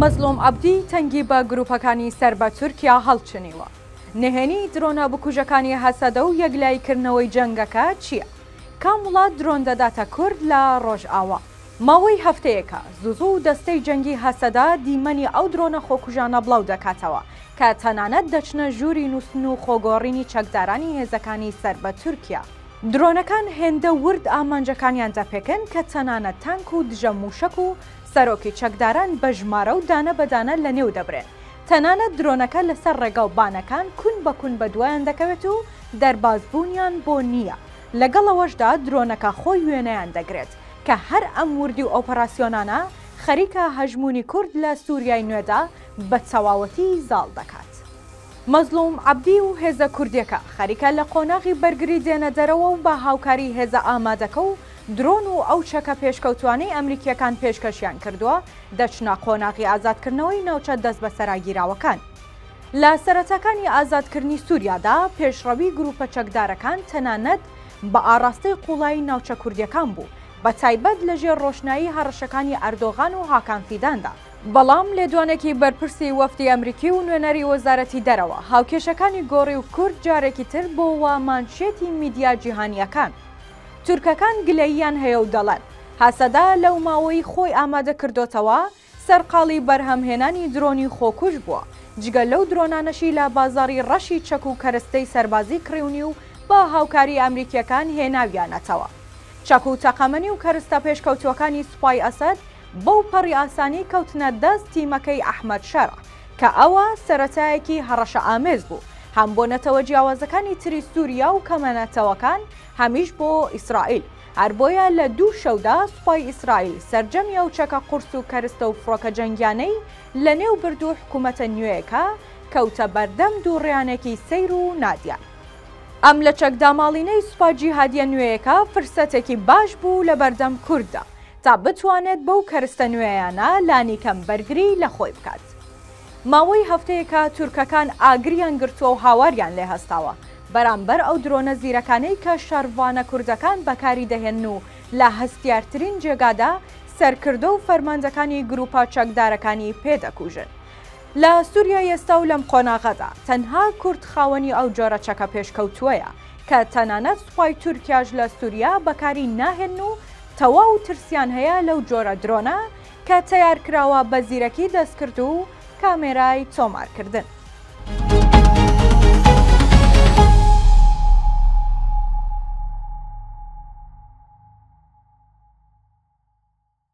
مەزڵوم عەبدی تەنگی بە گروپەکانی سەر بە تورکیا هەڵچنیوە، نهێنی درۆنە بکوژەکانی هەسەدە و یەکلایی کردنەوەی جەنگەکە چیە؟ کام وڵات درۆن دەداتە کورد لە ڕۆژئاوا؟ ماوەی هەفتەیەکە زوو زوو دەستەی جەنگی هەسەدە دیمەنی ئەو درۆنە خۆکوژانە بڵاو دەکاتەوە کە تەنانەت دەچنە ژووری نووستن و خۆگۆڕینی چەکدارانی هێزەکانی سەر بە تورکیا. درۆنەکان هێندە ورد ئامانجەکانیان دەپێکن کە تەنانەت تانک و دژە مووشەک و سەرۆکی چەکداران بە ژمارە و دانە بە دانە لەنێو دەبرێن. تەنانەت درۆنەکە لەسەر ڕێگا و بانەکان کون بە کون بەدوایان دەکەوێت و دەربازبوونیان بۆ نییە. لەگەڵ ئەوەشدا درۆنەکە خۆی وێنەیان دەگرێت کە هەر ئەم وردی و ئۆپەراسیۆنانە خەریکە هەژموونی کورد لە سووریای نوێدا بە تەواوەتی زاڵ دەکات. مەزڵوم عەبدی و هێزە کوردیەکە خەریکە لە قۆناغی بەرگری دێنە دەرەوە و بە هاوکاری هێزە ئامادەکە و درۆن و ئەو چەکە پێشکەوتوانەی ئەمریکیەکان پێشکەشیان کردووە دەچنە قۆناغی ئازادکردنەوەی ناوچە دەستبەسەراگیراوەکان. لە سەرەتاکانی ئازادکردنی سوریادا پێشڕەوی گروپە چەکدارەکان تەنانەت بە ئاڕاستەی قوڵایی ناوچە کوردیەکان بوو بە تایبەت لە ژێر ڕۆشنایی هەڕەشەکانی ئەردۆغان و هاکان فیداندا. بەڵام لێدوانێکی بەرپرسی وەفدی ئەمریکی و نوێنەری وەزارەتی دەرەوە، هاوکێشەکانی گۆڕی و کورد جارێکی تر بۆوە مانشێتی میدیا جیهانییەکان. تورکەکان گلەییان هەیە و دەڵێن، هەسەدە لەو ماوەی خۆی ئامادە کردۆتەوە، سەرقاڵی بەرهەمهێنانی درۆنی خۆکوژ بووە، جگە لەو درۆنانەشی لە بازاڕی ڕەشی چەک و کەرستەی سەربازی کڕیونی و بە هاوکاری ئەمریکییەکان هێناویانەتەوە. چەک و تەقەمەنی و کەرستە پێشکەوتووەکانی سوپای ئەسەد، بەو پەڕی ئاسانی کەوتنە دەست تیمەکەی ئەحمەد شەرع، کە ئەوە سەرەتایەکی هەڕەشەئامێز بوو، هەم بۆ نەتەوە جیاوازەکانی تری سووریا و کەمە نەتەوەکان، هەمیش بۆ ئیسرائیل. هەر بۆیە لە دوو شەودا سوپای ئیسرائیل سەرجەمی ئەو چەکە قورس و کەرستە و فڕۆکە جەنگیانەی لەنێو برد و حکوومەتە نوێیەکە کەوتە بەردەم دووڕیانێکی سەیر و نادیار. ئەم لەچەکداماڵینەی سوپا جیهادییە نوێیەکە فرسەتێکی باش بوو لەبەردەم کورددا، تا بتوانێت بەو کەرستە نوێیانە لانیکەم بەرگریی لە خۆی بکات. ماوەی هەفتەیەکە تورکەکان ئاگریان گرتووە و هاواریان لێ هەستاوە بەرامبەر ئەو درۆنە زیرەکانەی کە شەڕڤانە کوردەکان بەکاری دەهێنن و لە هەستیارترین جێگادا سەرکردە و فەرماندەکانی گرووپە چەکدارەکانی پێ دەکوژن. لە سوریای ئێستا و لەم قۆناغەدا تەنها کورد خاوەنی ئەو جۆرە چەکە پێشکەوتووەیە کە تەنانەت سوپای تورکیاش لە سوریا بەکاری ناهێنن و تەواو ترسیان هەیە لەو جۆرە درۆنە کە تەیار کراوە بە زیرەکی دەستکرد و کامێرای تۆمارکردن.